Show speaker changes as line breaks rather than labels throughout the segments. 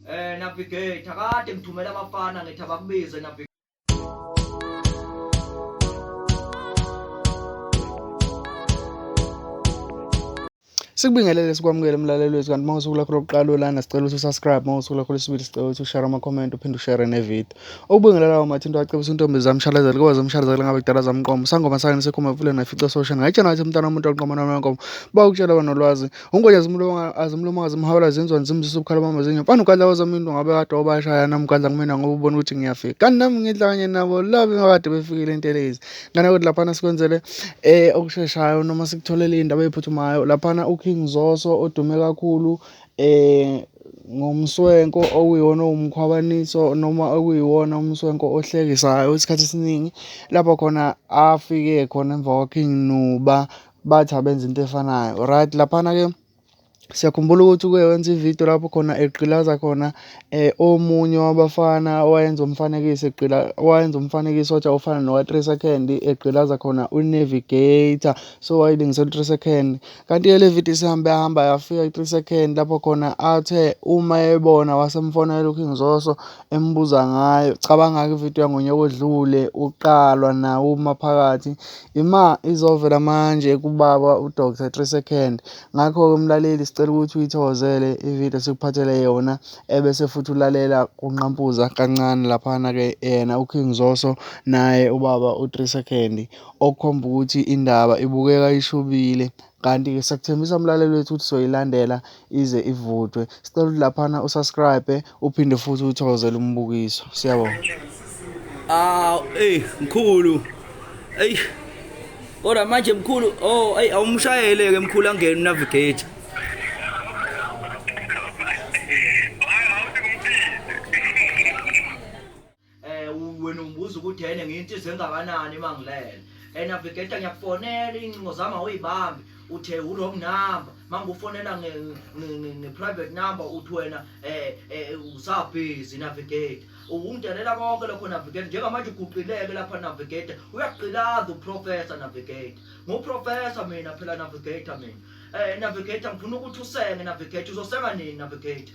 Eh navigator kade ngithumela abafana ngithi abakubize navigator
Sikubingelele sikwamukele mlaleli wethu kanti uma usuku lakho lokuqala olana sicela ukuthi usubscribe uma usuku lakho lesibili sicela ukuthi ushare ama-comment uphinde ushare ne-video. Okubingelelayo mathi into acebisa untombi zamshalazela kuba zamshalazela ngabe kudala zamqoma. Sangoma sakhe nisekhoma evuleni nafica sosha. Ngayitshena wathi mntana womuntu oqoma noma wenkomo. Bawukutshela wena nolwazi. Ungonya zimlonga azimlomanga zimhawula zinzwa nzimzisa ubukhala bami zinyo. Mfana ugadla wazama into ngabe kade wabashaya nami ugadla kumina ngoba ubona ukuthi ngiyafika. Kanti nami ngidla kanye nabo love ngakade befikile intelezi. Ngana kodwa laphana sikwenzele eh okusheshayo noma sikutholele indaba ephuthumayo. Laphana uKing Zoso odume kakhulu eh ngomswenko okuyiwona owumkhwabaniso noma okuyiwona umswenko ohlekisayo isikhathi esiningi lapho khona afike khona emva kwaKing Nuba bathi abenza into efanayo right laphana-ke siyakhumbula ukuthi uke wenza ividiyo lapho khona egqilaza khona um omunye wabafana owayenza umfanekiso egqila owayenza umfanekiso wathi awufana nowa-three second egqilaza khona unavigator so wayilingisela u-three second kanti-ke le vidiyo isihambe yahamba yafika i-three second lapho khona athe uma ebona wasemfonela uking zoso embuza ngayo. Cabanga-ke ividiyo yangonyaka odlule uqalwa nawo umaphakathi ima izovela manje kubaba udr three second ngakho-ke mlaleli sicela ukuthi uyithokozele ividiyo sikuphathele yona ebese futhi ulalela kunqampuza kancane laphana-ke yena uking zoso naye ubaba u-three second okukhomba ukuthi indaba ibukeka ishubile Kanti-ke siyakuthembisa mlaleli wethu ukuthi soyilandela ize ivutwe. Sicela ukuthi laphana usubscribe uphinde futhi uthokozele umbukiso. Siyabonga. Ah, hey
mkhulu. Hey. Kodwa manje mkhulu, oh, hey awumshayele ke mkhulu angene navigate.
eh wena ungibuza ukuthi yena ngiyintizo engakanani uma ngilele and navigator ngiyakufonela iy'ncingo zami awuyibambi uthe u-wrong number mangufonela nge-private number uthi wena um usabhizi navigator ungidelela konke lokho navigator njengamanje uguqileke lapha navigator uyagqilaza uprofessor navigator nguprofessor mina phela navigator mina um navigator ngifuna ukuthi usenge navigator uzosenga nini navigator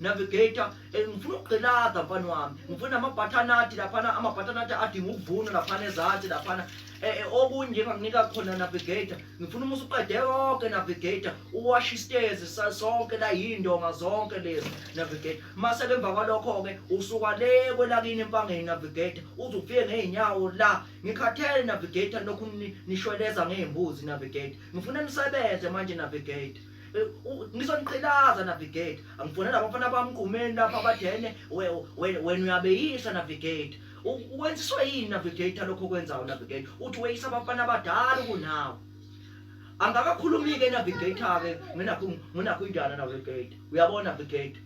navigator eh, ngifuna ukugqilaza mfana wami ngifuna amabhathanathi laphana amabhathanathi adinga ukuvunwa laphana ezansi laphana eh, eh, okunje enganginika khona navigator ngifuna uma usuqede konke navigator uwashe isitezi sonke la yindonga zonke lezi navigator mase ke emva kwalokho-ke usuka le kwelakini empangeni navigator uze ufike ngey'nyawo la ngikhathele navigator lokhu nishweleza ngey'mbuzi navigator ngifuna nisebenze manje navigator Eh, ngisho niqhilaza navigate angifonela abafana bami kumeni lapha abadene wena uyabeyisa navigate wenziswe yini navigator lokho kwenzayo navigator uthi weyisa abafana abadala kunawe angakakhulumi-ke navigator-ke nginakho nginakho indana navigator uyabona navigator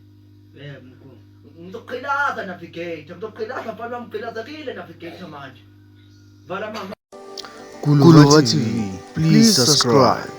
ngizoqhilaza
navigator ngizoqhilaza mfana wami qhilazekile navigator manje
vala mama
Kulova TV please
subscribe